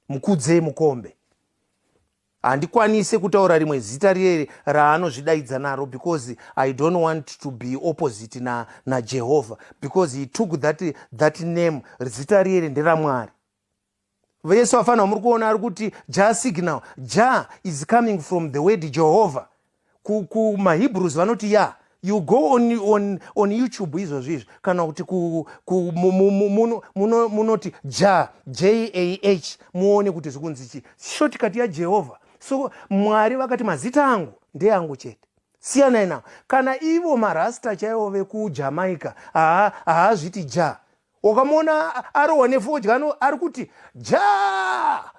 mukudzei mukombe handikwanise kutaura rimwe zita riye raanozvidaidza naro because i don't want to be opposite na, najehovha because he took that, that name zita riye nderamwari vesu afanira muri kuona ari kuti ja signal ja is coming from the word jehovha kumahebrews ku vanoti ya you go on, on, on youtube izvozvi izvi kana kuti munoti ja jah muone kuti zvi kunzi chii shotikati yajehovha so mwari vakati mazita angu ndeangu chete siyanai navo kana ivo marasta chaivo vekujamaica haazviti ja wakamuona arohwa nefodya ano ari kuti ja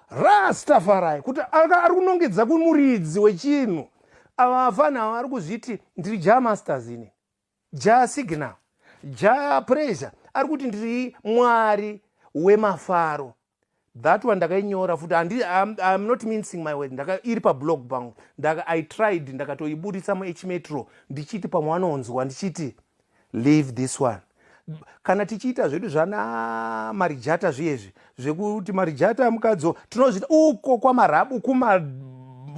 rastafarai kuti ari kunongedza kumuridzi wechinhu ava afana ava ari kuzviti ndiri ja masters ini ja signal ja pressure ari kuti ndiri mwari wemafaro that one ndakainyora futi handi iam not mincing my word ndaka iri pablog pangu ndaka i tried ndakatoiburitsa muhmetro ndichiti pamwe vanonzwa ndichiti leave this one kana tichiita zvedu zvana marijata zviyezvi zvekuti marijata mukadzo tinozviita uko kwamarabu kuma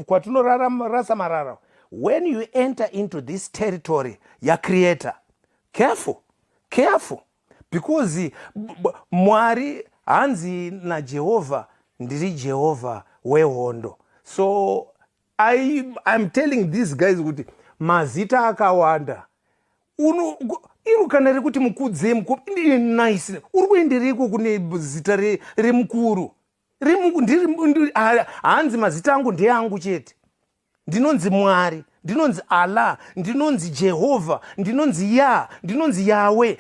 kwatinorarasa marara when you enter into this territory yacreator careful careful because mwari hanzi najehovha ndiri jehovha wehondo so I, i'm telling these guys kuti mazita akawanda uno iro kana rekuti mukudze nice uri kuendereiko kune zita remukuru hanzi mazita angu ndeangu chete ndinonzi mwari ndinonzi allah ndinonzi jehovha ndinonzi ya ndinonzi yawe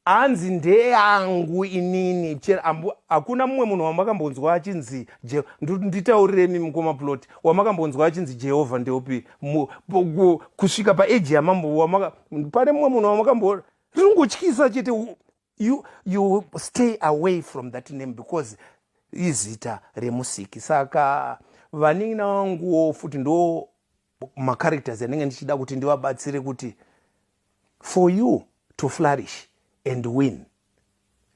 hanzi ndeyangu inini hakuna mumwe munhu wamakambonzwa achinzi nditauriremi mukoma plot wamakambonzwa achinzi jehovha ndeupi kusvika paeji yamambo pane mumwe munhu wamakambo ringotyisa chete you, you stay away from that name because izita remusiki saka vanin'ina vanguwo futi ndo macharacters anenge ndichida kuti ndivabatsire kuti for you to flourish and win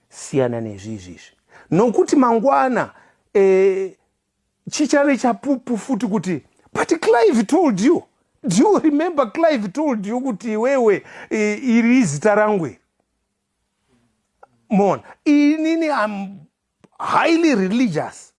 siyana nezvizvi izvi nokuti mangwana e, chichave chapupu futi kuti but clive told you do you remember clive told you kuti iwewe e, iri izita rangwe moona inini am highly religious